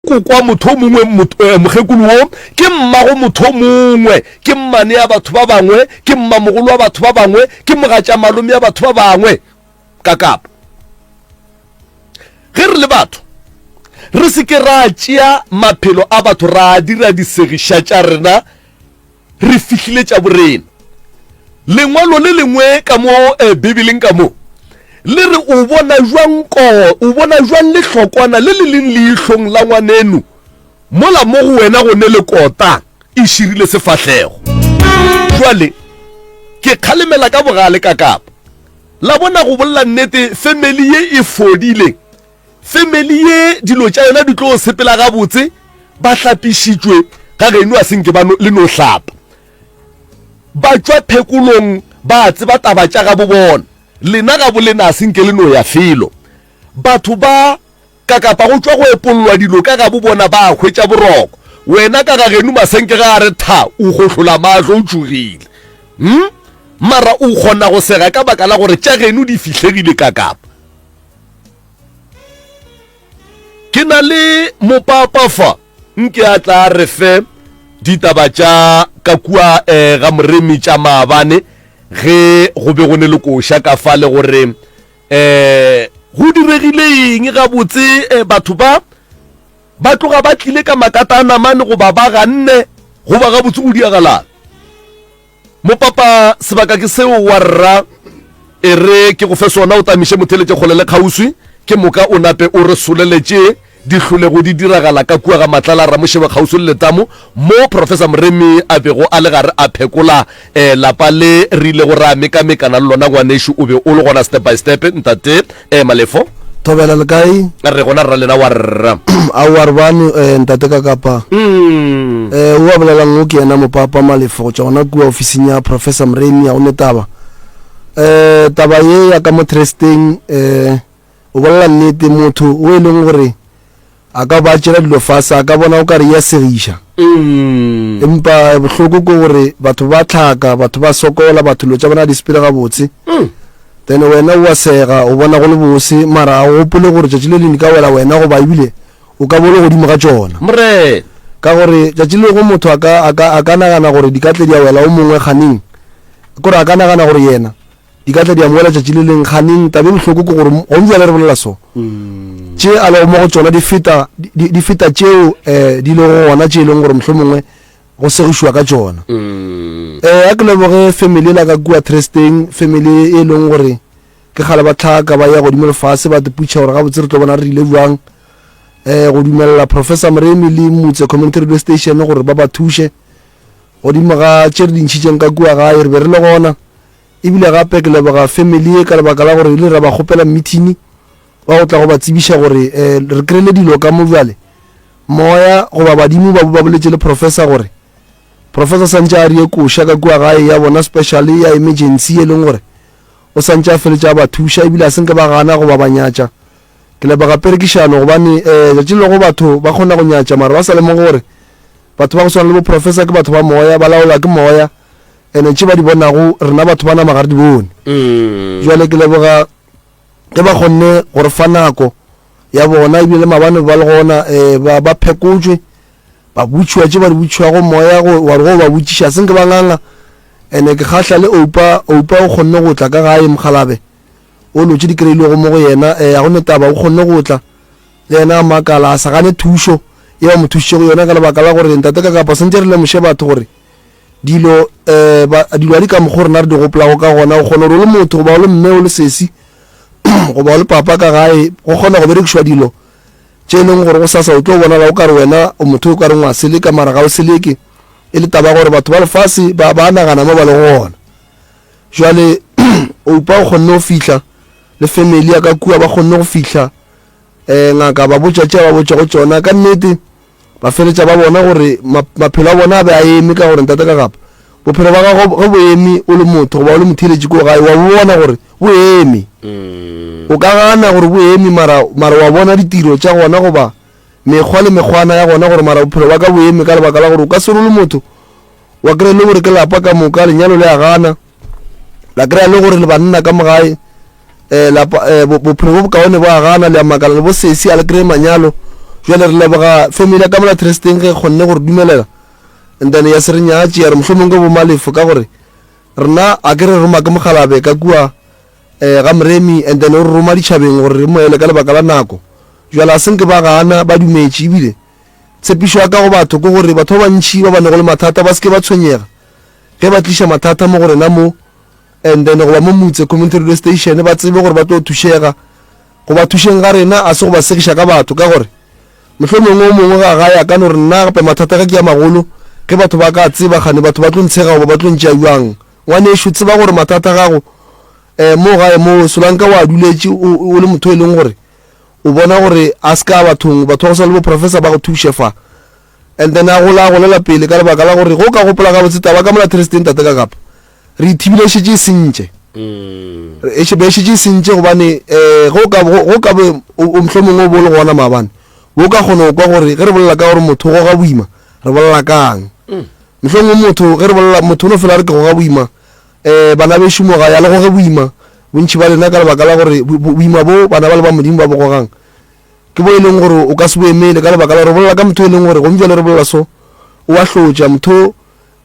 ko kwa motho mongwe eh, mokgekolo wo ke mmago motho mongwe ke mmane ya batho ba bangwe ke mmamogolo wa batho ba bangwe ke mogatša malome ya batho ba bangwe ka kapo ge re le batho re se ke ra tšea maphelo a batho ra dira disegiša tša rena Re fihlile tša borena. Lengwalo le lengwe ka mo eh, Bibeleng ka mo le re o bona jwang ko o bona jwang lehlokwana le le leng leihlong la ngwanenu mola mo go wena go ne le kota e širile sefahlego jwale ke kgalemela ka bogale ka kapa la bona go bolla nnete family ye e fodileng Family ye dilo tša yona di tlo sepela gabotse ba hlapišitšwe ga geno a se nke ba le no hlapa ba tšwa phekolong ba tseba taba tša gabo bona lena ga bolena a se nke le no ya felo batho ba ka kapa go tšwa go epollwa dilo ka gabo bona ba hwetša boroko wena ka ga geno masenke ga a re tha o gohlola maatlo o tšogile hm mara o kgona go sega ka baka la gore tša geno di fihlegile ka kapa Ke na le mopapa fa, nke a tla a re fe ditaba tša ka kua eh, ga Moremi tša maabane ge go be go ne le koša ka fa le gore eh, go diregile eng gabotse eh, batho ba ba tloga ba tlile ka makata a namane goba ba ganne goba gabotse go diagalang. Mopapa, Sebaka ke seo wa rra, e re ke go fe sona o tamiše motheletše kgole le kgauswi, ke moka o nape o re soleletše di hlolego di diragala ka kua ga Matlala Ramošebe kgauswi le letamo mo Professor Moremi a bego a le gare a phekola lapa le re ilego ra mekamekana le lona. Ngwanešu, o be o le gona step by step, Ntate. ee malefo thobela le kae re gona rra lena wa rra a wa re bane eh, ntate ka kapa um eh, o a bolelang o ke yena mopapa malefo go tšwa gona kua ofising ya professor moremi ya go netaba eh, taba ye ya ka mo tresteng eh, o bolela nnete motho o e leng gore A ka ba tšela dilo fase, a ka bona o ka re e a segiša. Empa bohloko ke gore batho ba tlhaka, batho ba sokola, batho dilo tša bona di sepele gabotse. Then wena o a sega, o bona go le bose, mara a o gopole gore tšatši le leng di ka wela wena goba ebile o ka bo o le godimo ga tšona. Morena. Ka gore tšatši lego motho a ka, a ka, a ka nagana gore di ka tle di a wela o mongwe kganeng. Ke gore a ka nagana gore yena. di ka tla di amogela tšatši le leng ganeng tabe bohloko ke gore gone jale re bolela so mm. tše a lego mo go tsona di feta di feta tšeo um di lego gona tše e leng gore mohlho mongwe go segišwa ka tsona um a ke leboge family e la ka kua tresteng family e leng gore ke gale ba tlhaka ba ya godimo lefase ba teputšha gore gabotse re tlo bona re rile jwang um go dumelela professor moremi le motse community radio station gore ba ba thuše godimo ga tše re dintšhitšeng ka kua gae re be re le gona Ebile gape ke leboga family ye ka lebaka la gore ile ra ba kgopela mmithini wa go tla go ba tsebiša gore um re kry-ile dilo ka mo bjale moya goba badimo ba ba boletše le professor gore professor santše a rie koša ka kua gae ya bona special ya emergency e leng gore o santše a feletše a ba thuša ebile a senke ba gana goba ba nyatša ke leboga perekišano gobane um letšatši lego batho ba kgona go nyatša mara ba sa lemoge gore batho ba go swana le bo professor ke batho ba moya ba laola ke moya Ene tše ba di bonago, rena batho ba nama ga re di bone. Bjale ke leboga ge ba kgonne go re fa nako ya bona, ebile le mabane ba le gona, eh, ba, ba phekotšwe, ba butšhiwa tše ba di butšhiwago moya, go, wa re go ba botšiša, se nke ba nganga. Ene ke kgahla le Oupa, Oupa o kgonne go tla ka gae, mokgalabje, o lotše di kreilwego mo go yena, eh, ga go ne taba, o kgonne go tla, le yena a makala, a sa gane thušo ye ba mo thušitšego yona, ka lebaka la gore ntate Kakapa, swantše re lemoše batho gore, Dilo, eh, ba, dilo a di ka mokgwa rena re di gopolago ka gona. O kgona gore o le motho, goba o le mme, o le sesi, goba o le papa ka gae, go kgona go berekišwa dilo tše e leng gore go sasa o tlo bonala o ka re wena o motho o ka reng wa seleka mara ga o seleke e le taba gore batho ba lefase ba, ba nagana mo ba le gona jale oupa o kgonne go fihla le family ya ka kua ba kgonne go fihla um ngaka ba botša tše ba botša go tšona ka nnete ba feletša ba bona gore maphelo a bona a be a eme ka gore ntate ka gapa bophelo ba gago ge bo eme o le motho goba o le motheletši ko gae wa bona gore bo eme mm. o ka gana gore bo eme mara wa bona ditiro tša gona goba mekgwa le mekgwana ya gona gore mara bophelo ba ka bo eme ka lebaka la gore o ka se role motho wa kry-a e le gore ke lapa ka moka lenyalo le a gana la kry-a le gore le banna ka mogae um eh, lapa um eh, bophelo bo bokaone bo a gana le a makala le bo sesi a le kry-e manyalo jale re leboga family ya kamela tresteng ge kgonne gore dumelela and then ya se re nyatše ya re mohlomong ke bomalefo ka gore rena a ke re roma ke mogalabe ka kua um ga moremi and then o re roma ditšhabeng gore re moele ka lebaka la nako jale a senke ba gana ba dumetše ebile Tshepišo ya ka go batho ke gore batho ba bantši ba ba nago le mathata ba se ke ba tshwenyega ge ba tliša mathata mo go rena mo and then goba mo motse community radio station ba tsebe gore ba tlo thušega go ba thušeng ga rena a se go ba segiša ka batho ka gore mohlho mongwe o mongwe ga ga ya ka no re nna gape mathata ge ke ya magolo ge batho ba ka tseba gane batho ba tlo ntshega goba ba tlo ntšea jwang ngwaneso tseba gore mathata gago um mo gae mo solanka wa duletše o le motho e leng gore O bona gore a se ka a bathong, batho ba go swana le bo Professor ba go thuše fa. And then a gola a golela pele ka lebaka la gore ge o ka gopola gabotse taba ka mola Thursday ntate ka kapa re ithibile e šetše e sentše. Re e be e šetše e sentše gobane eh ge o ka bo- go ka be o o mohlomongwe o bo o le gona maabane bo o ka kgona go kwa gore ge re bolela ka gore motho o goga boima re bolela kang. Mohlomongwe motho ge re bolela motho o no fela a re ke goga boima E, bana bešo, moga ya le goge boima, bontši ba lena, ka lebaka la gore boima bo bana ba le ba Modimo ba bo gogang, ke bo e leng gore o ka se bo emele, ka lebaka la gore bolela ka motho e leng gore gomme bjale re bolela so, o a hlotša, motho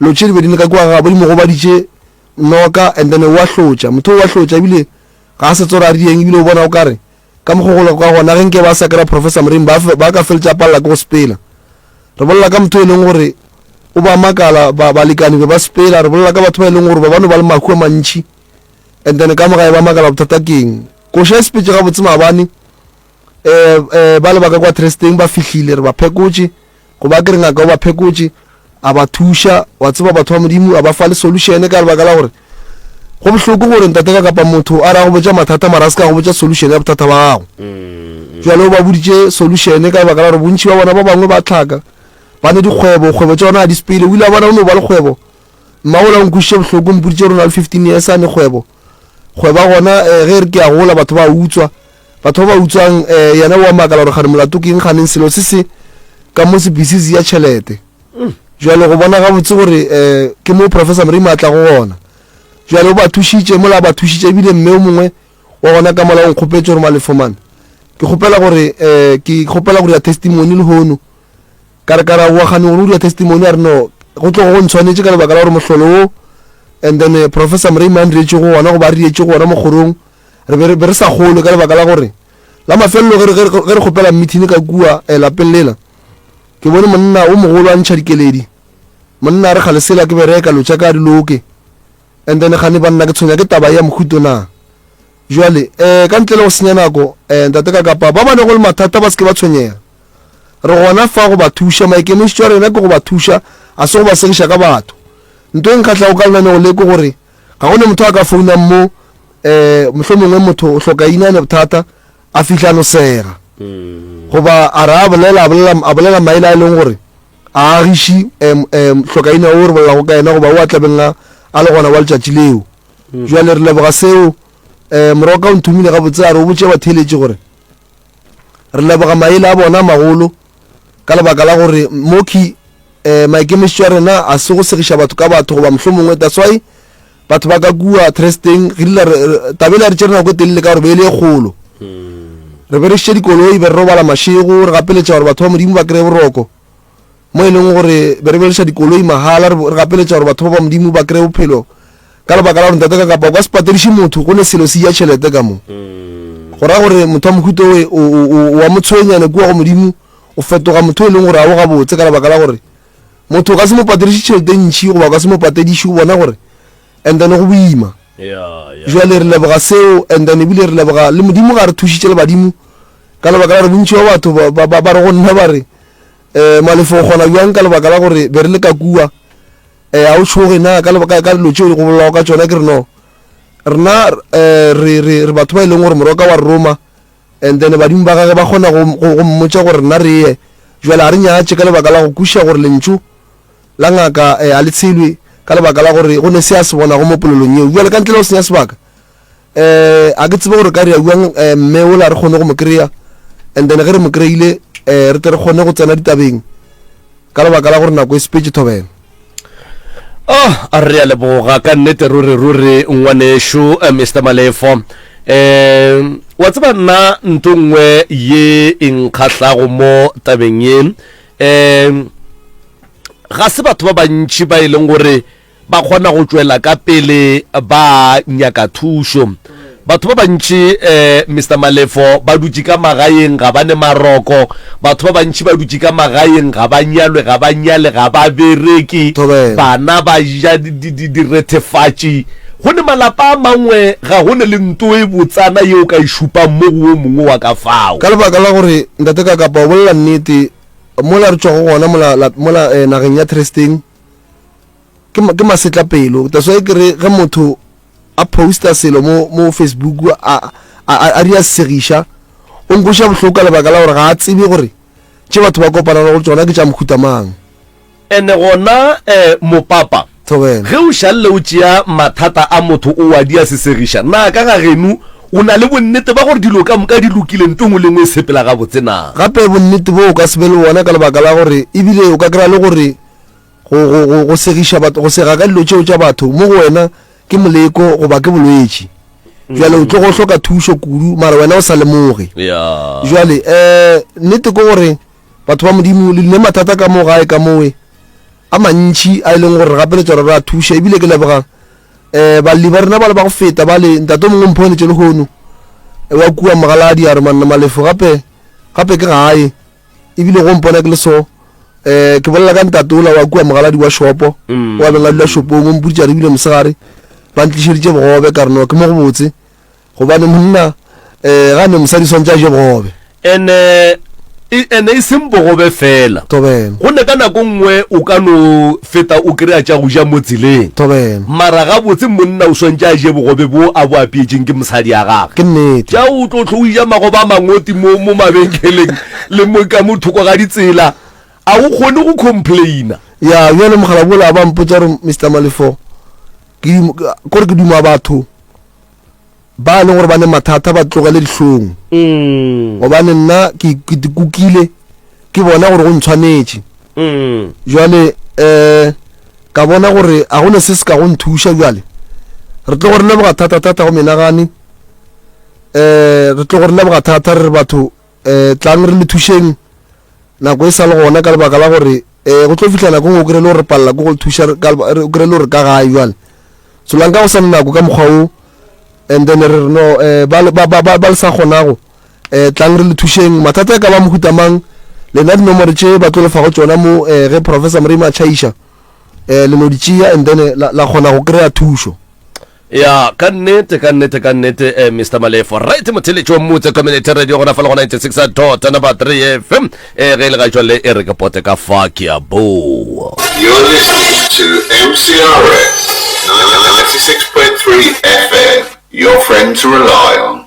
lo tše di be di le ka kua ga bo di mo gobaditše noka, and then o a hlotša, motho o a hlotša, ebile ga a se tsore a rieng, ebile o bona o kare Ka mokgo go lego ka gona, ge nke ba sa kry-a Professor Mrimi, ba, ba ka feletša ba palela ke go sepela. Re bolela ka motho e leng gore o ba makala, ba, balekani be ba sepela. Re bolela ka batho ba e leng gore ba bano ba le mahu a mantšhi, and then ka mogae ba makala bothata keng. Koša e sepetše gabotse maabane, um, um, ba lebaka kwa tresteng ba fihlile, re ba phekotše. go ba ke re ngaka o ba phekotše a ba thuša wa tseba batho ba modimo a ba fa le solution ka lebaka la gore go bohloko gore ntate ka kapa motho a ra go botša mathata mara a se ka go botša solution ya bothata ba gago mm. jalo o ba boditše solution ka lebaka la gore bontšhi ba bona ba bangwe ba tlhaka ba ne dikgwebo kgwebo tša bona a disepele o ile a bona o ne o ba le kgwebo mmagola o nkwišitše bohloko mpoditše rona le fifteen years a ne kgwebo go ba gona eh, ge re ke a gola batho ba utswa batho ba ba utswang eh, yena wa makala gore gane molato ke eng ganeng selo se se ka mo sepisizi ya tšhelete mm. jalo go bona gabotse gore um ke mo professor morimo a tla go gona jalo o ba thušitše mola ba thušitše ebile mme o mongwe wa gona ka mola o nkgopetse gore malefomane ke kgopela gore um ke kgopela gore ya testimony le hono ka re ka ra boa gane gore o dira testimony a re no go tlogo go ntshwanetse ka lebaka la gore mohlolo wo and then eh, professor moremi a nrietse go gona go ba rietse go gona mokgorong re be re- be re sa gole ka lebaka la gore la mafelelo ge re- ge re ge re kgopela meeting ka kua eh, lapeng lela ke bone monna o mogolo a ntšha dikeledi monna a re ga lesela ke bereka lotša ka diloke And then gane banna ke tshwenya ke taba ya mohuto na? Jwale eh ka ntle le go senya nako eh ntate ka kapa ba ba ne go le mathata ba se ke ba tshwenyega. Re gona fa go ba thuša, maikemišetšo a rena ke go ba thuša, a se go ba segiša ka batho. Nto e nkgahlago ka lenaneo le ke gore ga go ne motho a ka founang mo eh mohlomongwe motho o hloka ina ne bothata a fihla no sega goba a ra bolela a bolela a bolela maele a e leng gore A agiši um, um, hlokaina o re bolelago ka yena, goba o a tlabeng a, a le gona wa letšatši leo. Mm. Bjale re leboga seo. Um, morwa ka o nthomile gabotse a re o botše batheeletši gore re leboga maele a bona magolo ka lebaka la gore moki um eh, maikemišetšo a rena a se go segiša batho ka batho goba mohlomongwe that's why batho ba ka kua tresteng re dila tabele ya re tšere nako e telele ka gore be e le e kgolo re be re šitše dikoloi be re robala mašego re gapeletša gore batho ba modimo ba kry-e boroko mo e leng gore be re bereša dikoloi mahala re gapeletša gore batho ba ba modimo ba kry-e bophelo ka lebaka la gore ntate ka kapa o ka se patediše motho go ne selo se ya tšhelete ka mo mm. go raya gore motho wa mohuto oe wa motshwenyane kua go modimo o fetoga motho e leng gore ga o gabotse ka lebaka la gore motho o ka se mo patediše tšhelete ntšhi goba o ka se mo patediše o bona gore and then go boima jale re leboga seo and then ebile re leboga le modimo ga re thušitše le badimo ka lebaka la gore bontši ba batho ba re go nna ba re um malefo o kgona bjang ka lebaka la gore be re le ka kua um eh, ga o tšhoge na ka dilo tšeo di go bolelago ka tsona ke re no rena um eh, re batho ba e leng gore moroka wa roma And then badimo ba gage ba kgona go, go, go mmotša gore rena re ye. Bjale a re nyatše ka lebaka la go kwešiša gore lentšu la ngaka eh, a le tshelwe ka lebaka la gore go ne se a se bonago mo polelong yeo. Bjale ka ntle le go senya sebaka, eh, a ke tsebe gore ka re ya bjang eh, mme ola re kgone go mo kry-a and then ge re mo kry-ile eh, re tle re kgone go tsena ditabeng. ka lebaka la gore nako e sepetše thobela oh a re a leboga ka nnete ruri ruri ngwanešu eh, mr malefo um wa tseba nna nto nngwe ye e nkgahlago mo tabeng ye um ga se batho ba bantši ba e leng gore ba kgona go tšwela ka pele ba nyaka thušo. Batho ba bantši, eh, Mister Malefo, ba dutše ka magaeng, ga ba ne maroko. Batho ba bantši ba dutše ka magaeng, ga ba nyalwe, ga ba nyale, ga ba bereke, Thobela. bana ba ja di- di- di- direthefatši. Go ne malapa a mangwe ga go ne le nto e botsana yeo ka e šupang mo go o mongwe wa ka fao. ka lebaka la gore ntate ka kapa o bolela nnete mola re tšwago gona mola, la- mola eh, nageng ya thresteng ke ma- ke masetlapelo that's why ke re ge motho a posta selo mo mo facebook a a- a a di a segiša o nkweša bohloko ka lebaka la gore ga a tsebe gore tše batho ba kopana le go tsona ke tša mohuta mang ene gona eh, mopapa thobela ge o šalle o tšea mathata a motho o a di a sesegiša na ka ga genu o na le bonnete ba gore dilo ka moka di lokile nto ngwe le ngwe e sepela gabotse na gape bonnete bo o ka se be le bona ka lebaka la gore ebile o ka kry-a le gore go, go, go, go segiša batho go sega ka dilo tšeo tša batho mo go wena ke moleko goba ke bolwetši jale o tlo go hloka thušo kudu mara wena o sa lemoge ya jale um nnete ke gore batho ba modimo le dine mathata ka mo gae ka mowe a mantšhi a e leng gore re gapeletsa gore re a thuša ebile ke leboga um balli ba rena ba le ba go feta ba le ntate o mongwe mphonetse lehono wa kua mogaladi a re manna malefo gape gape ke gae ebile go mpona ke le so um ke bolela ka ntate ola wa kua mogaladi wa shopo mm. wa beng a dula shopong o mpoditsa re bile mosegare ba ntlišeditše bogobe ka reno ke mo go botse gobane monna um ga ne mosadi swantse a je bogobe ene ene e seng bogobe fela go ne ka nako nngwe o ka no Feta o kry-a tša go ja mo tseleng. Thobela. Mara gabotse monna o swantše a je bogobe bwo a bo apeetšeng ke mosadi ya gage. Ke nnete. Tša o tlo hlwe o ja magobe a mangoti mo mo mabenkeleng le mo ka mo thoko ga ditsela. A o kgone go complaina. Ya bjale mogala bola ba mpotša gore Mister Malefo ke dimo, kore ke duma batho. Ba e leng gore ba ne mathata ba tlogele dihlong, mm. gobane nna ke kukile ke bona gore go ntshwanetše. Mm. Jwale um ka bona gore ga go ne se se ka go nthuša jwale re tlo go re leboga thata-thata go menagane um re tlo go re leboga thata re re batho E, tlang re le thušeng nako e sa le gona ka lebaka la gore e, go tlo fihla nako ngwe o kry-e le gore re palela ko go le thuša re- ka leba- re- o kry-e le gore ka gae jale solang ka go sa le nako ka mokgwa o and then re re no eh, ba le- ba- ba ba- ba le sa kgonago um tlang re le thušeng mathata e ka ba mohuta mang lena dinomore tše ba tlo lefa go tsona mo um ge professor morima a tšhaiša um le no di tšea and then eh, la la kgona go kry-a thušo ya ka nnete ka nnete ka nnete eh, mr malefo right motheletši wa mmutse community radio gona fa le go 96 dot number 3 fm e ge e le ga jwale e re ke pote ka fa ke a boa You're listening to MCRS 96.3 FM, your friend to rely on.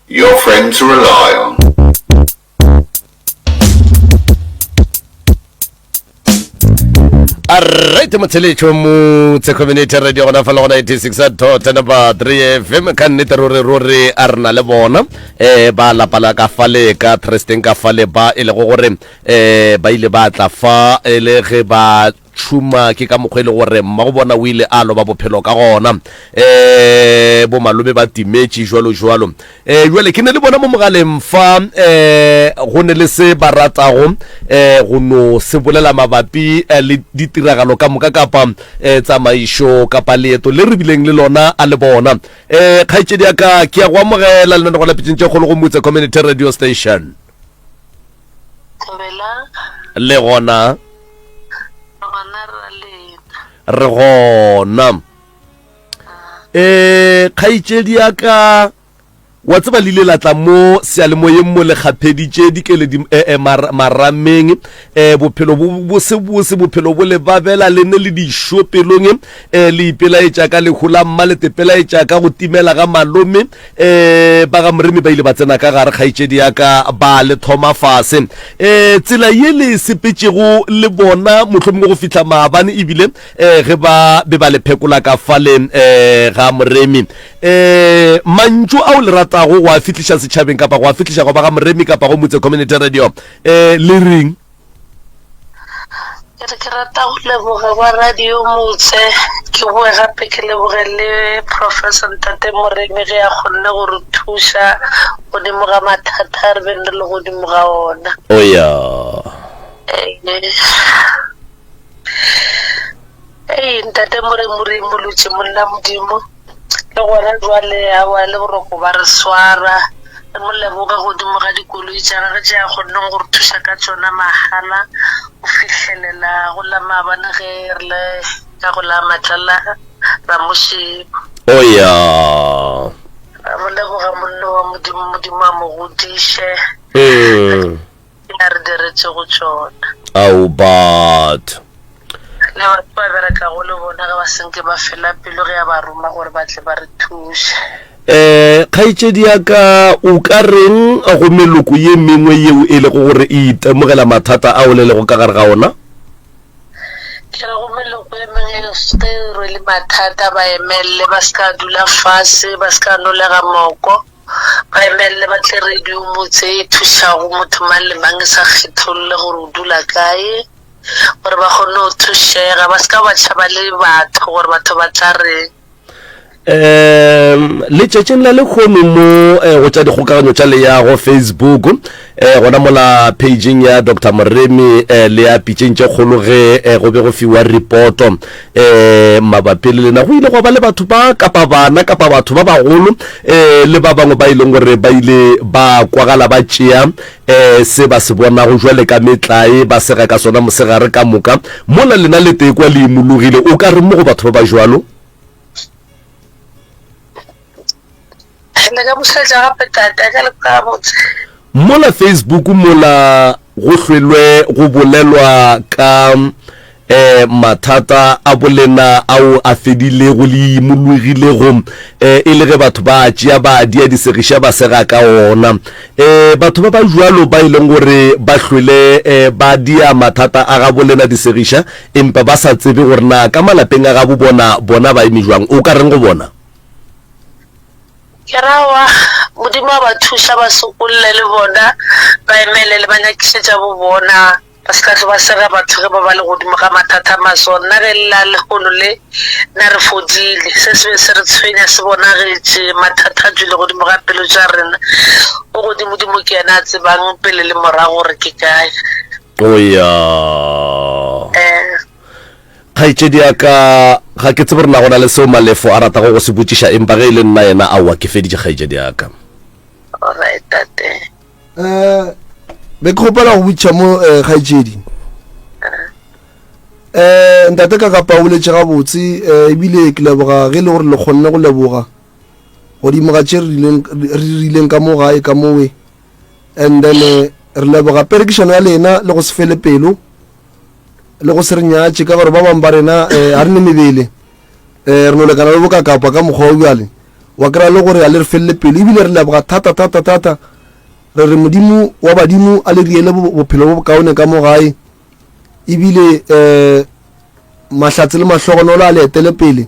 Your friend to rely on. arite motsheletšo motse community radio gona fa le gona 86 tota napa 3 fm ka nnete ruri ruri a re na le bona um ba lapala ka fale ka tresteng ka fale ba e lego gore um ba ile ba tla fa e le ge ba tšhuma ke ka mokgwa e le gore mmago bona o ile a loba bophelo ka gona um eh, bomalome ba timetše jalo jalo um eh, jale ke ne le bona mo mogaleng fa um eh, go ne le se ba ratago um go no se bolela mabapi um le ditiragalo ka moka kapa um tsamaišo kapa leeto le re bileng le lona a le bona um kgaetšedi ya ka ke ya go amogela lenanegwa la pitšeng tše kgolo go motse community radio station Thabelang, le gona gona ra lena. re gona um kgaitšedi ya ka wa tseba le ile la tla mo sealemoyeng mo le kgapheditše dikeledi um marameng um bophelo bo bosebose bophelo bo le babela le ne le dišo pelong um le ipelaetša ka lehu la mma le tepelaetša ka go timela ga malome E, ba ga Moremi ba ile ba tsena ka gare, kgaetšedi ya ka, ba le thoma fase. E, tsela ye le sepetšego le bona, mohlomongwe go fihla maabane, ebile e, ge ba be ba le phekola ka fale e, ga Moremi. E, mantšu ao le ratago go a fihliša setšhabeng, kapa go a fihliša go ba ga Moremi, kapa go Motse Community Radio, e, le reng? Ke re ke rata go leboga ba radio motse ke boe gape ke leboge le professor ntate Moremi ge a kgonne go re thuša godimo ga mathata a re beng re le godimo ga ona. Oya. Ee, ntate More Morena mmolotše monna Modimo, le gona bjale aowa le boroko ba re swara, re mo leboga godimo ga dikoloi tša gagwe tše a kgonneng go re thuša ka tšona mahala, go fihlelela go la maabane ge re le ka go la matlala ra mo šeba. O ya. Ra mo leboga monna wa Modimo, Modimo a mo godiše. Ke a re diretše go tšona. Ao batho. Le batho ba berekago le bona ge ba senke ba fela pelo ge a ba roma gore ba tle ba re thuše. Eh, kgaitšedi ya ka o ka reng go meloko ye mengwe yeo e lego gore e itemogela mathata ao le lego ka gare ga ona? Ke re go meloko ye mengwe e ge e rwele mathata ba emelele ba se ka dula fase ba se ka nolega moko. Ba emelele ba tle radiong tse thušago motho mang le mang e sa kgetholle gore o dula kae gore ba kgone go thušega ba se ka ba tšhaba le batho gore batho ba tla reng um letšatšing la lekgono mo eh, go tša dikgokaganyo tša leyago facebook eh gona mola pageng ya dr moremi eh le ya pitšeng tše kgolo ge eh go be go fiwa reporto eh mabapi le lena go ile go ba le batho ba kapa bana kapa batho ba bagolo eh le ba bangwe ba e leng gore ba ile ba kwagala ba tšea eh se ba se bonago jwale ka metlae ba sega ka sona mosegare ka moka mola lena le tekwa le imologile o ka re mo go batho ba ba jwalo mola facebook mola go hlwelwe go bolelwa ka um mathata a bolena ao a fedilego le imologilego um eh, e le ge batho ba tšea ba a dia disegiša ba sega ka ona um batho ba ba jalo ba e leng gore ba hlwele um ba dia mathata a ga bolena disegiša empa ba sa tsebe gore na ka malapeng a gabo bona bona ba eme jwang o ka reng go bona Ke ra wa, Modimo a ba thuša ba sokolle le bona, ba emelele ba nyakišetša bo bona, ba se ka hlwa ba sega batho ge ba ba le godimo ga mathata a maswa. Nna ge e lla lehono le na re fodile, se se be se re tshwenya se bonagetše, mathata a tšwele godimo ga pelo tša rena. O godimodimo ke yena a tsebang pele le morago gore ke kae. O ya. Kgaetšedi ya ka, ga ke tsebe gore na go na le seo Malefo a ratago go se botšiša, empa ge e le nna yena, aowa, ke feditše kgaetšedi ya ka. Alright, tate. Eh, be ke kgopela go botšiša mo eh, kgaetšedi. Eh, ntate ka kapa o boletše gabotse eh, ebile ke leboga ge e le gore le kgonne go leboga godimo ga tše re rileng- re di rileng ka mo gae ka mowe and then eh, re leboga perekišano ya lena le go se fele pelo le go se re nyatše ka gore ba bangwe ba rena um eh, ga re ne mebele um re no lekana le bokakapa ka mokgwa o bjale wa kry-a le gore ga le re felele pelo ebile re leboga thata thata thata re re modimo wa badimo a le riele bophelo bo bokaone ka mo gae ebile um mahlatse le mahlogonolo a le etele pele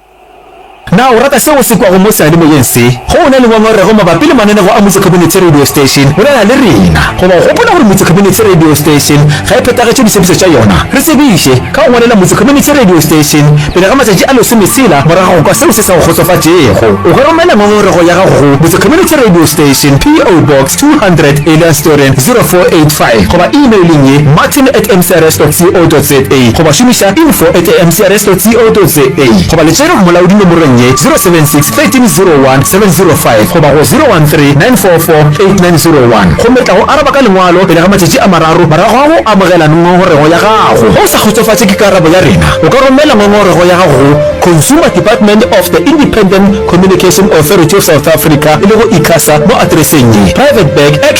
Na o rata se o se kwago mo seyalemoyeng se? Ge o na le ngongorego mabapi le mananeo a Motse Community Radio Station, bolela le rena. Goba o gopola gore Motse Community Radio Station ga e phethagetše ditshepetšo tša yona? Re tsebiše ka go ngwalela Motse Community Radio Station pele ga matšatši a lesometshela morago ga go kwa seo se sa go kgotsofatšego. O ka romela ngongorego ya gago go, Motse Community Radio Station, PO Box 200, Elandstoren 0485, goba e-mailing ye, martin at mcrs dot co dot za, goba šomiša info at mcrs dot co dot za. Tsotsi o totse A goba le tšere mmolaodi nomorong ye, 076 13 01 705 goba go 013 944 8901, gomme tla go araba ka lengwalo pele ga matšatši a mararo morago ga go amogela ngongorego ya gago. Ge o sa kgotsofatše ke karabo ya rena, o ka romela ngongorego ya gago go Consumer Department of the Independent Communication Authority of South Africa, e lego Icasa, mo atereseng ye, Private Bag,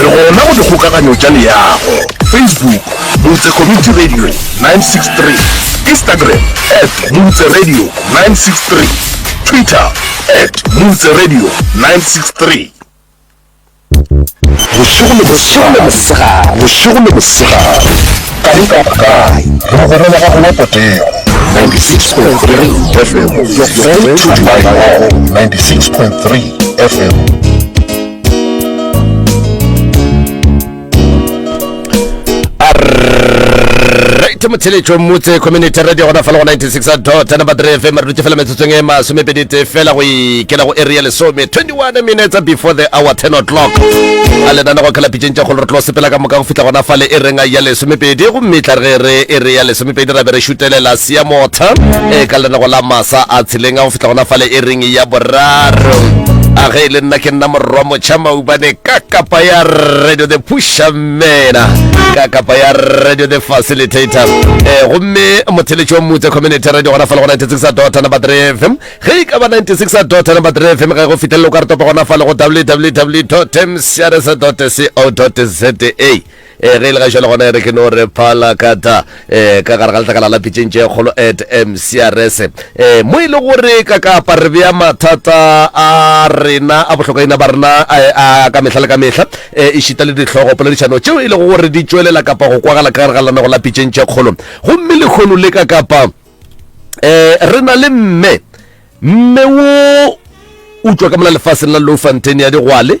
Re gona go dikgokaganyo tša leago, Facebook, Motse Community Radio 963, Instagram, at Motse Radio 963, Twitter, at Motse Radio 963. Bošego le mosegare, bošego le mosegare, ka di ka kae, re gona le gago wa potego. 96.3 FM, your friend to my home, 96.3 FM. ke motheletšo mmotse community radio gona fela go 96 dot number 3 fm re dutse fela metsotsong e masomepedi tee fela go ikela go area lesome 21 minutes before the hour 10 o'clock a lenana go khala pitšeng tša kgolo re tlo sepela ka moka go fihla gona fale e reng ya lesomepedi gomme tla re re area lesome Pedi ra be re šutelela Seamotha e ka lenego la masa a tshileng a go fihla gona fale e ring ya boraro a ge e le nna ke nna morwa motšha maubane ka kapa ya radio the pusha mena ka kapa ya radio the facilitator eh, gomme motheletši wa motse community radio gona fale go 96 a dota number 3 fm ge e ka ba 96 a dota number 3 fm ge go fitlhelelo ka re topa gona fale go www mcrs co za e ge e le ga jalo gona e re ke no re phala kata um ka gare ga letlakala la pitšeng tše kgolo at mcrs um mo e le gore ka kapa re bea mathata a rena a bohlokaina ba rena a ka mehla le ka mehla um e šita le ditlhogo poledišano tšeo e lego gore di tšwelela kapa go kwagala ka gare ga lenanego la pitšeng tše kgolo gomme lekgono le ka kapa um re na le mme mme wo utswa ka mola lefaseng la low fontain ya digwale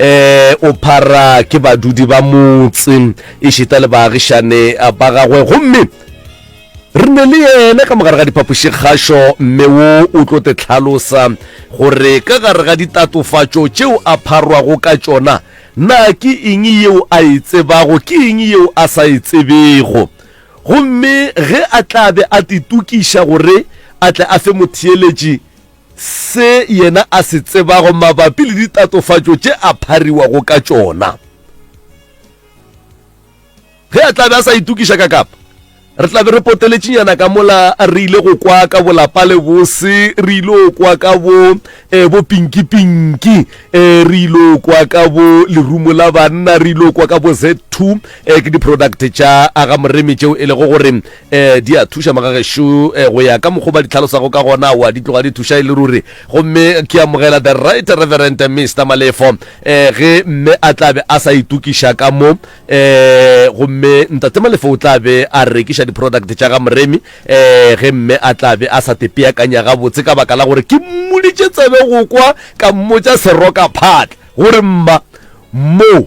um o phara ke badudi ba motse e šita le baagišane ba gagwe gomme re ne le yena ka mogare ga diphapošikgašo mme wo o tlo te tlhalosa gore ka gare ga ditatofatšo tšeo a pharwago ka tšona na ke eng yeo a e tsebago ke eng yeo a sa e tsebego gomme ge a tla be a titokiša gore a tle a fe motheeletši se yena a se tsebago mabapi le ditatofatšo tše a phariwago ka tšona. Ge a tla be a sa itokiša ka kapa, re tla be re poteletšinyana ka mola re ile go kwa ka bolapa le bose re ile kwa ka bo um eh, bopinkipinki um eh, re ile kwa ka bo lerumo la banna re ile kwa ka bo z2 um eh, ke di-product tša aga moremi tšeo e lego gore um di a thuša magagešo um go ya ka mokgwa ba di tlhalosago ka gona wa di tloga di thuša e le ruri gomme ke amogela the right reverend mr malefo um ge mme a tla be a sa itokiša ka mo um gomme ntate malefo o tla be a rekiša di-product tša ga moremi um ge mme a tla be a sa tepeakanya gabotse ka baka la gore ke mmoditše tsebe go kwa ka mmotša seroka phatla gore mma moo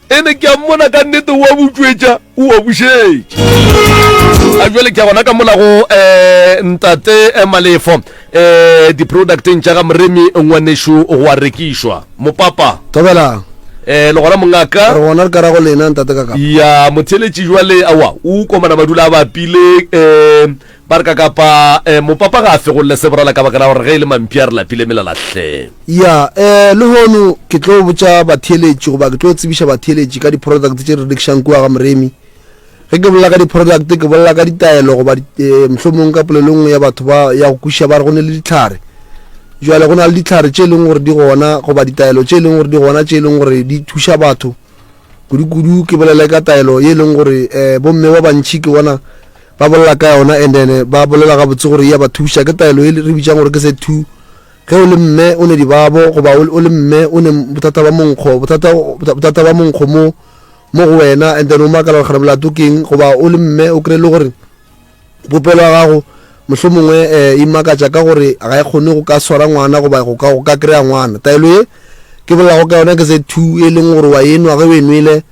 ene ke a mmona ka nnete o a butšwetša o a bušetša a jale ke a gona ka molago um eh, ntate eh, malefo um eh, di-producteng tša ga moremi ngwanešo go a rekišwa mopapa tobelang um le gona mongaka re gona re ka rago lena ntate ka kapa ya motheletši jwale awa o komana madula a bapile um Ba re ka kapa eh, mopapa ga a fegolle se borala ka baka la gore ge e le mampi a re lapile melala hle. Ya, eh, lehono ke tlo botša batheeletši goba ke tlo tsebiša batheeletši ka di-product tše re rekišang kua ga moremi. Ge ke bolela ka di-product ke bolela ka ditaelo goba di, eh, mohlomong ka polelo nngwe ya batho ba ya go kwešiša ba re go ne le ditlhare. Jwale go na le ditlhare tše e leng gore di gona goba ditaelo tše e leng gore di gona tše e leng gore di thuša batho kudu-kudu ke bolele ka taelo ye e leng gore eh, bomme ba bantšhi ke bona Ba bolela ka yona and then ba bolela gabotse gore e ya ba thuša. Ke taelo e re bitšang gore ke se two. Ge o le mme o ne dibabo goba o le mme o ne bothata ba monkgo, bothata bothata ba monkgo mo mo go wena and then o makala gore gare molato ke eng goba o le mme o kry le gore popelo ya gago mohlho mongwe um e makatša ka gore ga e kgone go ka swara ngwana goba go ka go ka kry-a ngwana. Taelo e ke bolelago ka yona ke se two e leng gore wa enwa ge o e nwele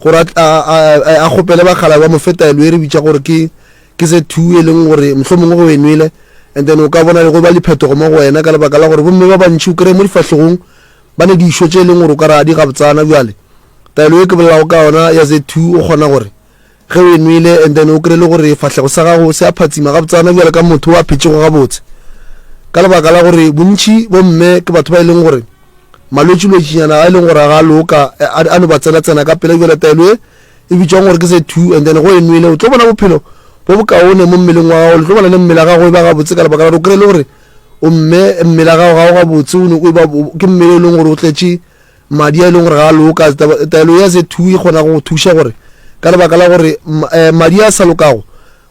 gore a, a, a, a kgopele bakgala ba mofetaelo e re bitša gore ke ke se two e leng gore mohlho mongwe go enwele and then o ka bona le go ba diphetogo mo go wena ka lebaka la gore bomme ba bantšhi o kry-e mo difahlogong ba ne dišo tše e leng gore o ka re a di gabtsana bjale taelo e ke bolelago ka yona ya z two o kgona gore ge o enwele and then o kry-e le gore fahlego sa gago se a phatsima gabtsana bjale ka motho wa phetšego gabotse ka lebaka la gore bontšhi bomme ke batho ba e leng gore malwetšilwetšinyana a e leng gore ga a loka a no ba tsenatsena ka pela bjale taelo e e bitšwang gore ke se two and then go e nwele o tlo bona bophelo bo bokaone mo mmeleng wa gago le tlo bona le mmele gago e ba gabotse ka lebaka la gore o kry le gore o mme mmele gago ga o gabotse o ne o e ba ke mmele e leng gore o tletše madi a e leng gore ga a loka taelo ya se two e kgona go thuša gore ka lebaka la gore eh, madi a sa lokago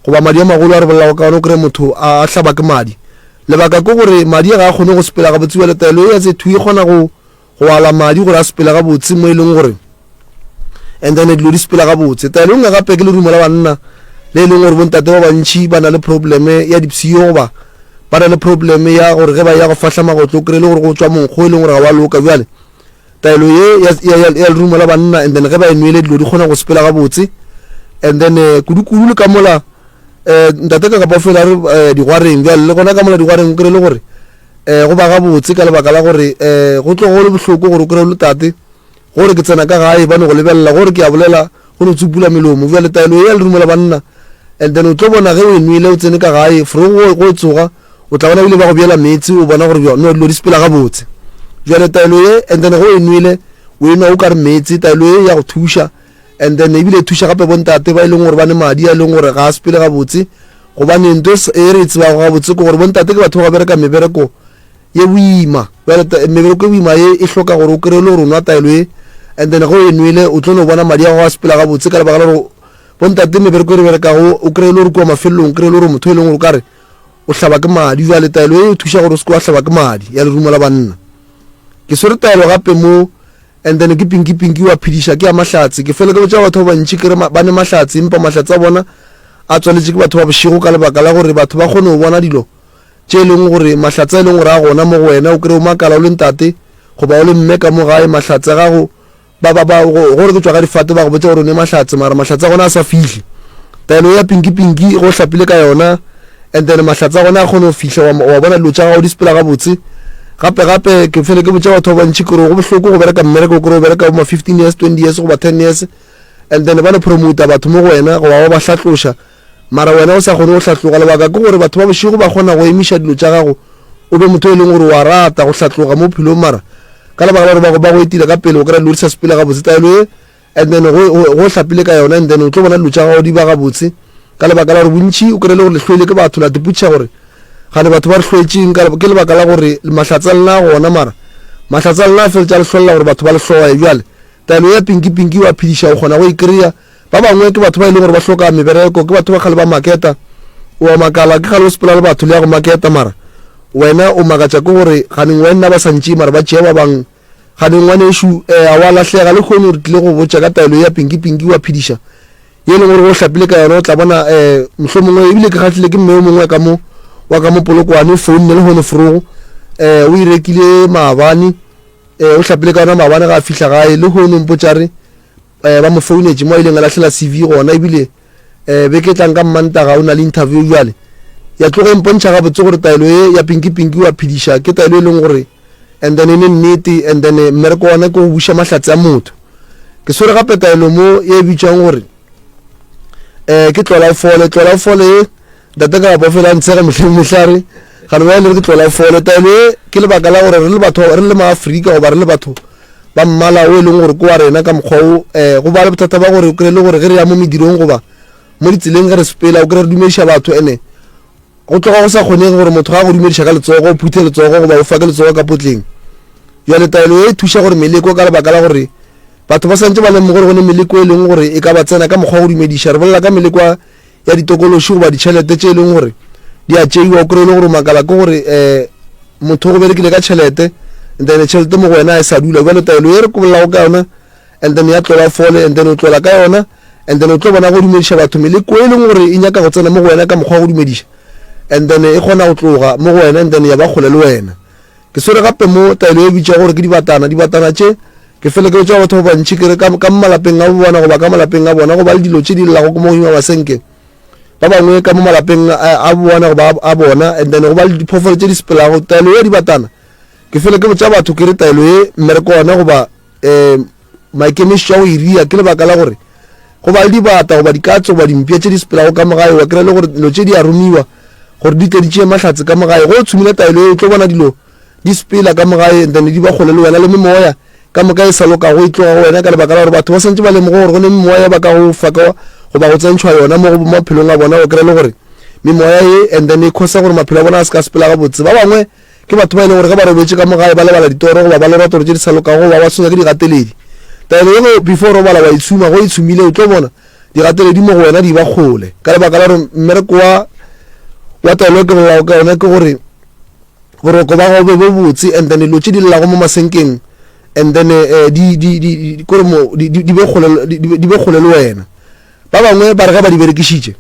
Goba madi a magolo a re bolelago ka ona, o kreye motho a a hlaba ke madi. Lebaka ke gore madi a ga a kgone go sepela gabotse, bjale taelo ye ya tše thwi e kgona go go ala madi gore a sepele gabotse mo e leng gore and then dilo di sepela gabotse. Taelo e nngwe gape ke lerumo la banna le e leng gore bontate ba bantši ba na le probleme ya dipsio goba ba na le probleme ya gore ge ba ya go fahla magotlo o kry-e le gore go tšwa monkgo e leng gore ga wa loka bjale taelo ye ya, ya, ya, ya lerumo la banna and then ge ba e nwele dilo di kgona go sepela gabotse and then uh, eh, kudu-kudu le ka mola um ntate ka kapa o fela re uh, digwareng bjale le gona ka mola digwareng o kry le gore um go ba gabotse ka lebaka la gore um go tlogo le bohloko gore o kry le tate gore ke tsena ka gae ba no go lebelela gore ke a bolela go no tsupula melomo bjale taelo ye ya lerumo la banna and then o tlo bona ge o e nwele o tsene ka gae fro go tsoga O tla bona ebile ba go bjela meetse, o bona gore bjone no dilo di sepela gabotse. Bjale taelo ye, and then ge o e nwele, o e nwa o ka re meetse, taelo ye ya go thuša, and then ebile e thuša gape bontate ba e leng gore ba ne madi a e leng gore ga a sepele gabotse, gobane nto e re e tsebago gabotse ke gore bontate ke batho ba ba bereka mebereko ye boima. Bjale mebereko e boima ye e hloka gore o kry-e le gore o nwa taelo ye, and then ge o e nwele o tlo no bona madi a go a sepela gabotse ka lebaka la gore bontate mebereko e re berekago o kry-e le gore kua mafelelong o kry-e le gore motho e leng gore o ka re o hlaba ke madi. Jwale taelo e thuša gore o seke wa hlaba ke madi ya lerumo la banna. Ke swere taelo gape mo and then ke pinki pinki wa phediša ke ya mahlatse. Ke fele ke botša batho ba bantši ke re ba ne mahlatse empa mahlatse a bona a tswaletše ke batho ba bošego ka lebaka la gore batho ba kgone go bona dilo tše e leng gore mahlatse a e leng gore a gona mo go wena o kry o makala o le ntate goba o le mme ka mo gae mahlatse a gago ba ba ba go gore ke tswa ka difate ba go botse gore o ne mahlatse mara mahlatse a gona a sa fihle taelo ya pinki pinki go hlapile ka yona and then mahlatse a gona a kgone go fihle wa wa bona dilo tša gago di sepela gabotse gape gape ke fele ke botsa batho ba bantši kore go bohloko go bereka mmereko kore o bereka ma fifteen years twenty years goba ten years and then ba le promoter batho mo go wena go ba ba ba hlatloša Mara wena o sa kgone go hlatloga. Lebaka ke gore batho ba bošego ba kgona go emiša dilo tša gago, o be motho yo e leng gore o a rata go hlatloga mo bophelong. Mara ka lebaka la gore ba go, ba go etile ka pele, o kry-a dilo di sa sepele gabotse. Taelo ye, and then go, go, go hlapile ka yona, and then o tlo bona dilo tša gago di ba gabotse. Ka lebaka la gore bontši o kry-e le gore le hloile ke batho, la dipotšiša gore gane batho ba re hloetšeng. Ka, ke lebaka la gore mahlatse a lena a gona, mara mahlatse a lena a feletša a le hlolela gore batho ba le hloye. Bjale taelo ya pinki-pinki wa phediša, o kgona go e kry-a. Ba bangwe ke batho ba e leng gore ba hloka mebereko, ke batho ba kgale ba maketa. O a makala ke kgale o sepela le batho le ya go maketa, mara wena o makatša ke gore ganeng wenna ba sa ntšee mara ba tšea ba bang. Ganeng ngwanešu, um a wa lahlega le kgone gore tlile go botša ka taelo ya pinki-pinki wa phediša ye e leng gore o hlapile ka yona, o tla bona um mohlomongwe ebile ke kgahlile ke mme o mongwe ka mo wa ka mo polokwane o founne le gone forogo um o irekile maabane um o hlapile ka yona maabane ga a fihla gae le gone mpotšare um ba mo founetše mo a ileng a lahlela cv gona ebile um beke tlang ka mmantaga o na le interview bjale ya tlogo e mpontšha gabotse gore taelo ye ya pinki pinki wa phediša ke taelo e leng gore and then e le nnete and then eh, mmereko ona ke go buša mahlatse a motho ke swere gape taelo mo e bitšwang gore um ke tlola o fole tlola o fole ye Ntate ka gapo fela ntshega mehleng mehlare ga le bale re ke tlola fole taelo e ke lebaka la gore re le batho re le maafrika goba re le batho ba mmala o e leng gore ko wa rena ka mokgwa o um go ba le bothata ba gore o kry-e le gore ge re ya mo medirong goba mo ditseleng ge re sepela o kry-e re dumediša batho ene go tloga go sa kgonege gore motho ga go dumediša ka letsogo o phuthe letsogo goba o fa ke letsogo ka potleng jale taelo e thuša gore meleko ka lebaka la gore batho ba santse ba leng gore go ne meleko e leng gore e ka ba tsena ka mokgwa go dumediša re bolela ka meleko ya ditokološi goba ditšhelete tše e leng gore di a tšeiwa o kry-e le gore makala ke gore um motho go berekile ka tšhelete and then tšhelete mo go wena a e sa dula jale taelo ye re kolelago ka yona and then ya tlola fole and then o tlola ka yona and then o tlo bona go dumediša batho meleko e leng gore e nyaka go tsena mo go wena ka mokgwa wa go dumediša and then e kgona go tloga mo go wena and then ya ba kgole le wena Ke swere gape mo taelo ye bitša gore ke dibatana. Dibatana tše, ke fele ke botša batho ba bantši ke re ka, ka malapeng a bona goba ka malapeng a bona goba le dilo tše di llago mo godimo masenke. Ba bangwe ka mo malapeng a bona goba a bona and then goba le diphofolo tše di sepelago. Taelo ye dibatana, ke fele ke botša batho ke re taelo ye mmereko ona goba um maikemišetšo a go iria ke lebaka la gore go ba le dibata goba dikatso goba dimpša tše di sepelago ka mogae wa kry-a le gore dilo tše di a romiwa gore di tle di tšee mahlatse ka mogae go o tshumile taelo e o tlo bona dilo di sepela ka mogae and then di ba kgole le wena le memoya ka moka e sa lokago e tloga go wena ka lebaka la gore batho ba swantse ba lemoge gore go ne memoya e ba ka go fa ka goba go tsentšhwa yona mo go maphelong a bona o kry-e le gore memoya e and then e khosa gore maphelo a bona a se ka sepela gabotse ba bangwe Ke batho ba e leng gore ge ba robetše ka mo gae ba lebala ditoro goba ba lorato gore tše di sa lokago goba ba tshwenya ke digateledi. Taelo ye go before robala wa itshuma go itshumile o tlo bona digateledi mo go wena di ba kgole ka lebaka la gore mmereko wa wa taelo e ke bolelago ka yona ke gore boroko ba gago be bo botse and then dilo tše di llelago mo masenkeng and then eh, di be kgole le wena Ba bangwe ba re ge ba di berekišitše,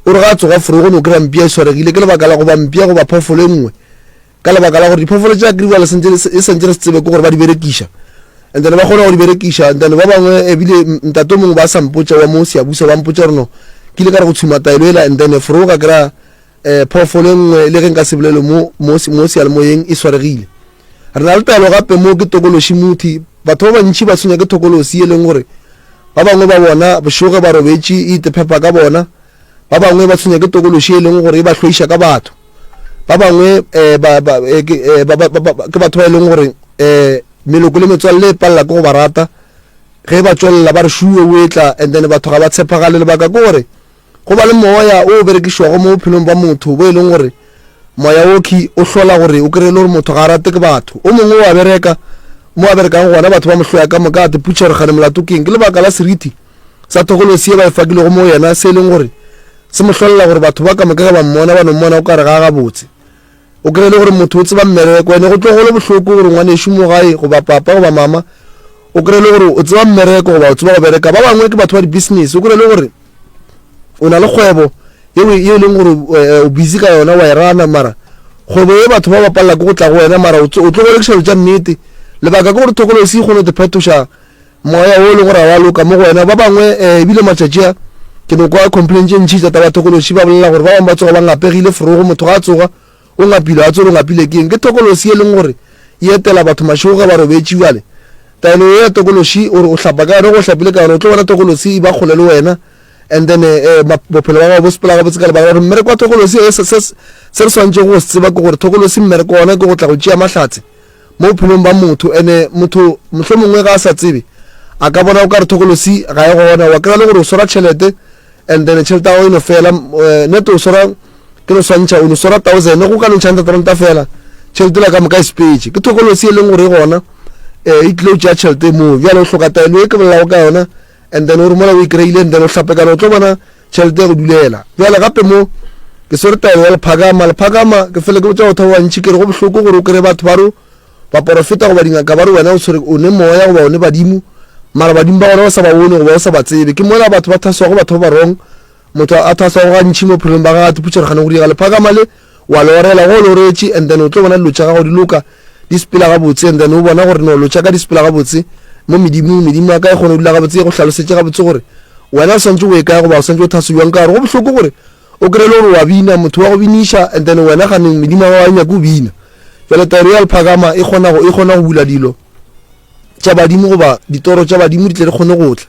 o re ge a tsoga forogo no kry-a mpia e swaregile ke lebaka la go ba mpia go ba phoofolo e nngwe ka lebaka la gore diphoofolo tša kriwale e sentše re se tsebe ke gore ba di berekiša and then ba kgona go di berekiša and then ba bangwe ebile ntate mongwe ba sa mpotša wa mo seabusa ba mpotša gore no ke ile ka re go tshuma taelo ela and then forogo ka kry-a um phoofolo e nngwe le ge nka se bolele mo mo se- mo seyalemoyeng e swaregile re na le taelo gape mo ke tokološi muthi batho ba bantši ba tshwenya ke thokolosi e leng gore ba bangwe ba bona bošoge ba robetše e itephepa ka bona ba bangwe ba tshwenya ke tokološi e leng gore e ba hloiša ka batho ba bangwe um ba, ba, eh, ke, eh, ba, ba, ba, ba, ke batho ba e leng gore um meloko le metswalle e palela ke go ba rata ge ba tswelela ba re šuwe o etla and then batho ga ba tshepagale lebaka ke gore Go ba le moya o o berekišwago mo bophelong bwa motho bo e leng gore moya woki o hlola gore o kry-e le gore motho ga a rate ke batho o mongwe o a bereka mo a berekang gona batho ba mohloya ka moka a teputšha gore gane molato keng ke lebaka la seriti sa thokolosi e ba e fakilego mo yena se e leng gore se mo hlolela gore batho ba ka moka ge ba mmona ba no mmona o ka re ga a gabotse O kry-e le gore motho o tseba mmereko ene go tlo golo bohloko gore ngwanešu mo gae goba papa goba mama o kry-e le gore o tseba mmereko goba o tseba go bereka ba bangwe ke batho ba di-business o kry-e le gore o na le kgwebo yeo e, e leng gore eh, o busy ka yona wa e rana mara kgwebo ye batho ba ba palela ke go tla go wena mara o tlo go rekiša dilo tša nnete lebaka ke gore thokolosi e kgone go te phetoša Moya wo o lego ra wa loka mo go wena. Ba bangwe, e, e bile matšatši a, ke no kwa complain tše ntši tša tabathokološi, ba bolela gore ba bangwe ba tsoga ba ngapegile forogo, motho ga a tsoga, o ngapilwe, a tswele o ngapile ke eng? Ke tokolosi e leng gore e etela batho mašego ge ba robetše. Bjale, taelo ye ya tokološi, o re o hlapa ka yona, ge o hlapile ka yona, o tlo bona tokolosi e ba kgole le wena, and then, e, e, ma, bophelo bja gago bo sepela gabotse ka lebaka la gore mmereko wa tokolosi, e, se, se, se re swanetšego go se tseba ke gore tokolosi mmereko wa ona ke go tla go tšea mahlatse, mo bophelong ba motho. Ene motho mohlomongwe ga a sa tsebe, a ka bona o ka re thokolosi ga e gona. Wa kry-a le gore o swara tšhelete and then tšhelete ya gago e no fela. Eh, nete o swara ke no swantšha, o no swara thousand, go ka no ntšha hundred ranta fela, tšhelete la ka moka e sepetše. Ke thokolosi e leng gore e gona, um e tlile o tšea tšhelete moo. Bjale o hloka taelo e ke bolelago ka yona and then o re mola o e kry-ile and then o hlapekana o tlo bona tšhelete ya go dulela bjale gape mo ke swere taelo ya lephakama lephakama ke fele ke botsa go thaba bantšhi ke re go bohloko gore o kry batho ba ro baporofeta goba dingaka ba re wena o tshwere o ne moya goba o ne badimo mara badimo ba gona o sa ba bone goba o sa ba tsebe ke mola batho ba thaswago batho ba barong motho a thaswago gantšhi mo phelong ba gagate putšeregane go diega lephakama le Wa lorela, ge o loretše, and then o tlo bona dilo tša gago di loka, di sepela gabotse, and then o bona gore no, dilo tša ka di sepela gabotse mo medimong, medimo ya ka e kgona go dula gabotse, e go hlalosetše gabotse gore wena o swanetše go ye kae goba o swanetše go thase bjang. Ka gore go bohloko gore o kry-e le gore wa bina, motho wa go biniša, and then wena ganeng medimo ya gago ga e nyake o bina. Bjale taelo ya lephakama e kgona go, e kgona go bula dilo tša badimo, goba ditoro tša badimo di tle di kgone go tla.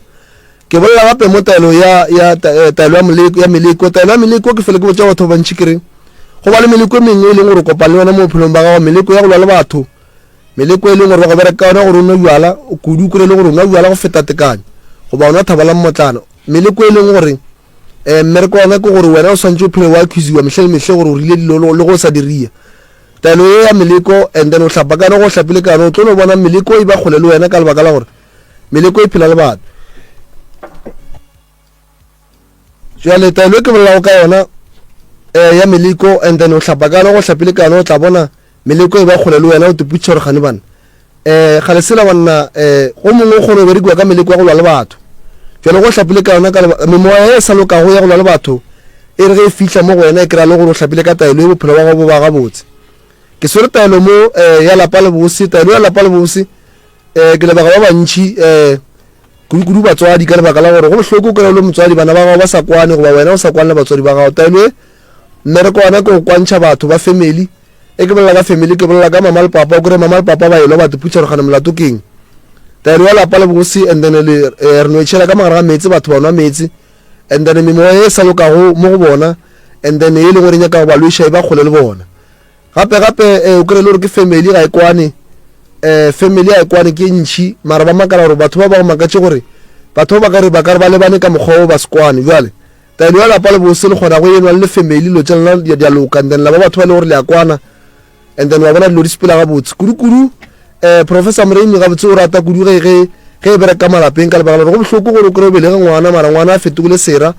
Ke bolela gape mo taelo ya, ya ta, eh, taelo ya, moleko, ya meleko. Taelo ya meleko, ke fele ke botša batho ba bantši ke re, go ba le meleko e mengwe e leng gore o kopane le yona mo bophelong ba gago, meleko ya go lwa le batho, meleko e leng gore ba go bereka yona gore o nwe bjala, kudu kore e le gore o nwa bjala go feta tekanyo, goba o nwa thaba la mmotlana, meleko e leng gore um mmereko wa yona ke gore wena o swantse o phele wa accusiwa mehle le mehle gore o rile dilo le go o sa diria taelo ye ya meleko and then o hlapakane go hlapile kana o tlo no bona meleko e ba kgole le wena ka lebaka la gore Meleko e phela le batho. Jwale taelo e ke bolelago ka yona eh, ya meleko and then o hlapa kano go hlapile kano o tla bona meleko e ba kgole le wena o teputšha gore gane bana eh ga le sela banna eh go mongwe kgone o berekiwa ka meleko ya go lwa le batho jalo go hlapile ka yona ka memoya e sa lokago ya go lwa le batho e re ge e fitlha mo go wena e kry-a le gore o hlapile ka taelo e bophelo ba gago bo ba gabotse ke swere taelo mo eh, ya lapa le bose taelo ya lapa le bose um ke lebaka ba bantšhi um kudu-kudu batswadi ka lebaka la gore go bohloko kry le motswadi bana ba gago ba sa kwane goba wena o sa kwane le batswadi ba gago taelo e mmereko wana ke go kwantšha batho ba family e ke bolela ka family ke bolela ka mama le papa o kry mama le papa ba elwa ba teputšha gore gane molato keng taelo ya lapa le bogose and then le eh, re no etšhela ka magare ga meetse batho ba nwa meetse and then memoya e sa lokago mo go bona and then e leng gore e nyaka go ba lweša e ba kgole le bona Gape gape eh, o kry-e le gore ke family ga e kwane eh, family ga e kwane ke ntšhi mara ba makala gore batho ba ba go makatše gore batho ba ba ka re ba ka re ba lebane ka mokgwa o ba se kwane bjale taelo ya lapa le bose le kgona go enwa le family dilo tša lena di a loka and then la ba batho ba le gore le a kwana and then wa bona dilo di sepela gabotse kudu-kudu um eh, professor moremi gabotse o rata kudu ge ge ge e bereka ka malapeng ka lebaka gore go bohloko gore o kry-o belege ngwana mara ngwana a fetogile sera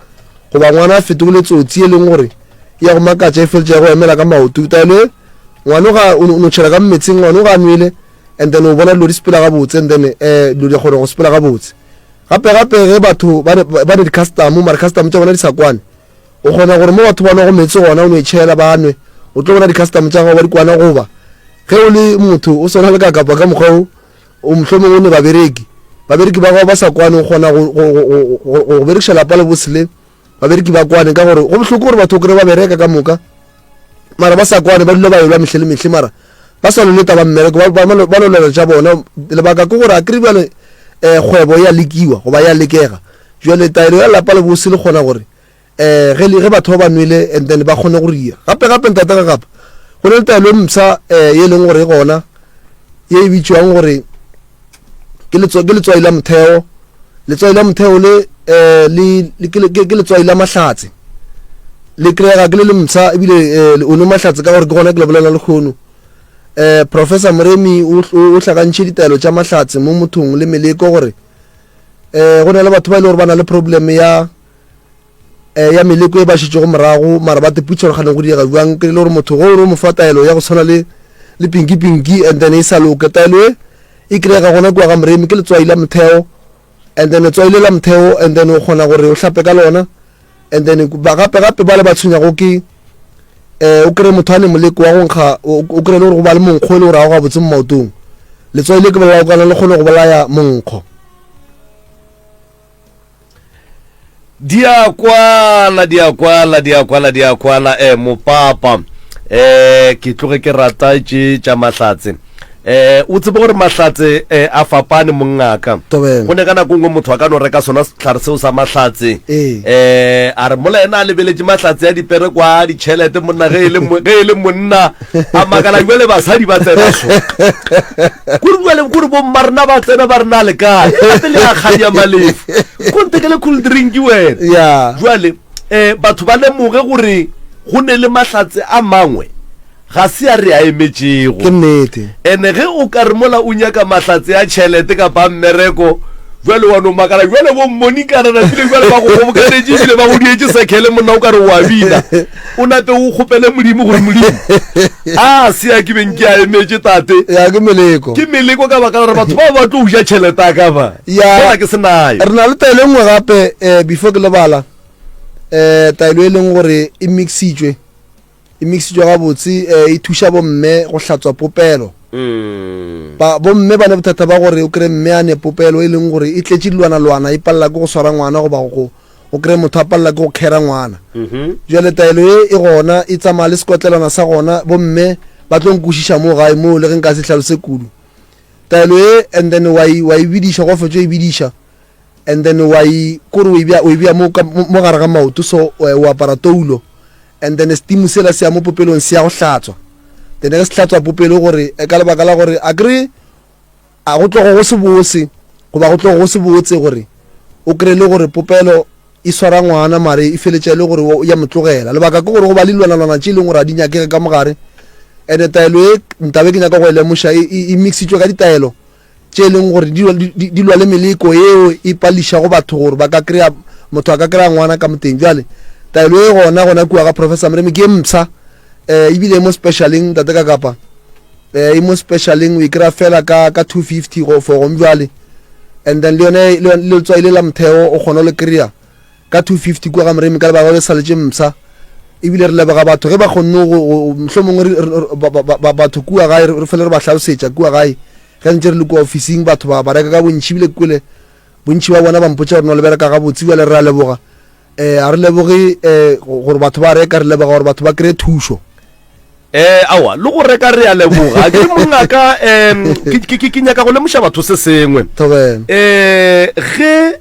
goba ngwana a fetogile tsotsi e leng gore ya go makatša e feletša ya go emela ka maoto taelo e ngwane ga o no tšhela ka mmetseng ngwane o ga a nwele and then o bona dilo di sepela gabotse and then um dilo di kgona go sepela gabotse gape gape ge batho ba ne di-custom mare custom tša bona di sa kwane o kgona gore mo batho ba nwago metse gona o no e tšhela ba nwe o tlo bona di-custom tša gago ba di kwana goba ge o le motho o swana le ka kapa ka mokgwa o o mohlomong o ne babereki babereki ba gago ba sa kwane o kgona go berekiša lapa le bosele babereki ba kwane ka gore go bohloko gore batho kry ba bereka ka moka mara ba sa kwane ba dula ba elwa mehle le mehle mara ba sa loleta ba mmereko ba lolelo tša bona lebaka ke gore a kry bjale um kgwebo ya lekiwa goba ya lekega jale taelo ya lapa le bose le kgona gore um ge batho ba ba nwele and then ba kgone go ria gape gape ntate ga gape go ne le taelo e msa um e leng gore e gona ye e bitšwang gore ke letswai la motheo letswai la motheo le eh, ke letswai la mahlatse le kry-ega ke le le mtsha ebile eh, o nwe mahlatse ka gore ke gona ke le bolela lekgono um eh, professor moremi o hlakantšhe ditaelo tša mahlatse mo mothong le meleko gore um go na le batho ba e le gore ba na le problem ya eh, ya meleko e ba šetšego morago mara ba teputsa gore gane go diega bjang ke le gore motho go re mo fa taelo ya go tshwana le le pinki pinki and then e sa loke taelo e e kry-ega gona kua ga moremi ke letswai la motheo and then letswai le la motheo and then o kgona gore o hlape ka lona and then ba gape gape ba le ba tshwenyago ke eh o kry motho a ne moleko wa go nkga o kry le gore go ba le monkgo e le gore a go ga botse mo maotong letswai le ke bolaya o kana le kgone go bolaya monkgo di a kwala di a kwala di a kwala di a kwala eh mopapa eh ke tloge ke rata tše tša mahlatse eh o tsebe gore mahlatse eh, a fapane mongaka Tobela. go ne ka nako nngwe motho a ka no reka sona setlhare seo sa mahlatse Ee. eh a re mola ena a lebeletše mahlatse ya dipere kwa ditšhelete monna ge e le mo- ge e le monna a makala jale basadi ba tsena so kore jale kore bomma rena ba tsena ba rena le kae gape le akgang ya malefu go nthekele cool drink wena jale um eh, batho ba lemoge gore go ne le mahlatse a mangwe ga se a re a emetšego ke nnete ene ge o ka re mola o nyaka mahlatse ya tšhelete kapa mmereko jale wa no makala jale bo mmonikana napile jale ba go gobokanetše ebile ba go dietse sekele monna o ka re wa bina o nape o kgopele modimo gore modimo a se ya ke beng ke a emetse tate ya ke meleko ke meleko ka baka gore batho ba ba tlo uja tšhelete a ka ba ya ke se nayo re na le taelo e nngwe gape um before ke lebala um taelo e leng gore e mixitswe e mixitswe gabotse um e thuša bomme go hlatswa popelo mm. bomme ba ne bothata ba gore o kry mme a ne popelo e leng gore e tletše dilwana-lwana e palela ke go swara ngwana goba go o kry motho a palela ke go kgera ngwana mhm. jale taelo e e gona e tsamaya le sekotlelwana sa gona bomme ba tlo nkwešiša mo gae moo le ge nka se tlhalose kudu taelo e and then wa e bidiša go fetso e bidiša and then wa e kore o e bea mo gare ga maoto so o eh, apara toulo and then setimu sela se ya mo popelong se ya go hlatswa then ge se hlatswa popelo gore eh, ka lebaka la gore a kry A go tlogo go se bose, goba go tlogo go se botse gore o kry le gore popelo e swara ngwana mare e feletša e le gore o ya motlogela lebaka ke gore go ba le dilwanalwana tše e leng gore a di nyakege ka mogare ande taelo e ntabe ke nyaka go e lemoša e, e, e mixitswe ka ditaelo tše e leng gore di lwa le meleko eo e pališago batho gore ba ka kry-a motho a ka kry-a ngwana ka moteng jale taelo e gona gona kua ga professor mreme ke e msa eh ibile mo specialing tate ka kapa eh e mo specialing o ikira fela ka ka 250 go for gong jwale and then le yone le letswai le la motheo o kgona le kry-a ka 250 kua ga moremi ka lebaka le saletse msa ebile re lebega batho ge ba kgonne motlho mongwe batho kua gae re fele re ba tlhalosetša kua gae ge ntse re le kua officing batho ba ba reka ka bontšhi ebile kule Bontši ba bona ba mpotša gore no le bereka gabotse, bjale re a leboga. Eh, a re leboge eh, gore batho ba reka, re leboga gore batho ba kry thušo. Eh, awa, le go reka re a leboga. Ke mongaka, um, ke nyaka go lemoša batho se sengwe. Thobela. Eh, ge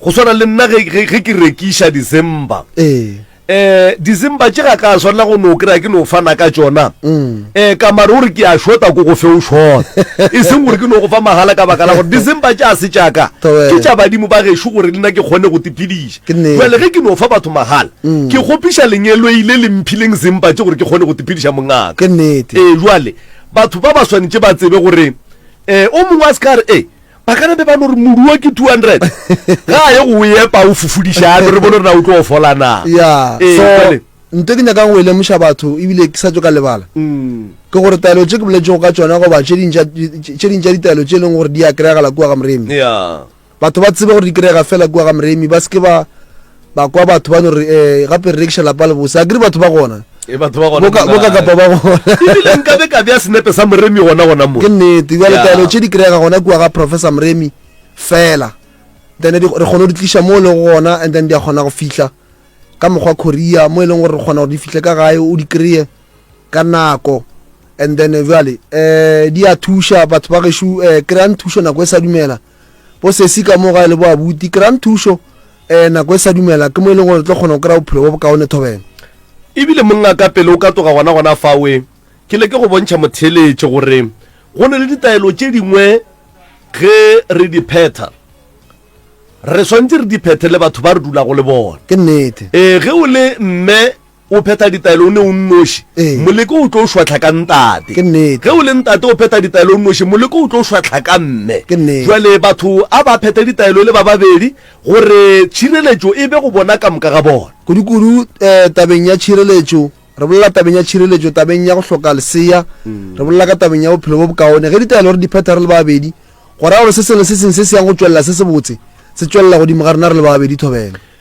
go swana le nna ge ke rekiša December. Eh. eh dizimba tše ga ka swanela go no kry-a ke no fana ka tsona um ka mare o re ke a shota ko go fe o shona e seng gore ke no go fa magala ka baka la gore dizimba tše a se jaaka Tobela. ke tša badimo ba gešo gore le nna ke kgone go tiphediša Ke nnete. jale ge ke no fa batho magala ke kgopiša lengeloi le le mphileng zimba tše gore ke kgone go tiphediša mongaka ke nnete ee jale batho ba ba swanetše ba tsebe gore um o mongwe a se ka re e ba ka be ba no re moduo ke 200 ga a ye go epa o fufodiša ano re bone re na o tlo fola na ya ee, so nto ke nyakang go e lemoša batho ebile ke sa tso ka lebala mm. ke gore taelo tse ke boletsego ka tsona goba tse ding tša ditaelo tse e leng gore di ya kry-agala kua ga moremi batho ba tsebe gore di kry-ega fela kua ga moremi ba se ke ba ba kwa batho ba no re eh gape re rekiša lapa le bose a kere batho ba gona e batho ba gona boka boka kapa ba gona ebile nka be ka bja senepe sa moremi gona gona mo ke nnete bjale taelo tše di kry-ega gona kua ga professor moremi fela then re kgone go di tliša mo e lego gona and then di a kgona go fihla ka mokgwa korea mo e leng gore re kgona gore di fihle ka gae o di kry-e ka nako and then jale um di a thuša batho ba gešo um kry-ang thušo nako e sa dumela bo sesi ka mo gae le bo abuti kry-a nthušo um nako e sa dumela ke mo e leng gore tlo kgona go kry-a bophelo bo bokaone thobela ebile monna ka pele o ka toga gona gona fawe ke leke go bontšha motheletše gore go ne le ditaelo tše dingwe ge re di phetha re swantse re di phethe le batho ba re dulago le bona ke nnete ee ge o le mme o phetha ditaelo o ne o nnoši moleko o tlo o šwatlha ka ntate ge o le ntate o phetha ditaelo o nnoši moleko o tlo o šwatlha ka mme jale batho a ba phethe ditaelo le ba babedi gore tšhireletšo e be go bona ka moka ga bona kudu-kudu um tabeng ya tšhireletšo re bolela tabeng ya tšhireletšo tabeng ya go hloka lesea mm. re bolela ka tabeng ya bophelo bo bokaone ge ditaelo re di phetha re le babedi go raya gore se sengwe se sengwe se se yang go tswelela se se botse se tswelela godimo ga rena re le babedi thobela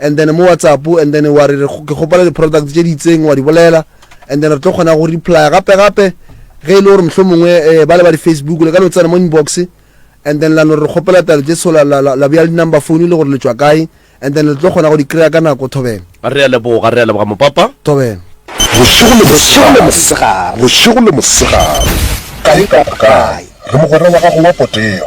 and then mo whatsapp and then wa re ke kgopela di-product tše di itseng wa di bolela and then re tlo kgona go replya gape gape ge e le gore mohlho mongwe um eh, ba le ba di-facebook le ka no tsena mo inbox and then la no re kgopela talo tše so la bja di-number phone le gore le tswa kae and then le tlo kgona go di kry-a ka nako thobela re a leboga re a leboga mopapa thobela bošego le mosegare bošego le mosegare kae kapa kae re mogwera wa gago wa potego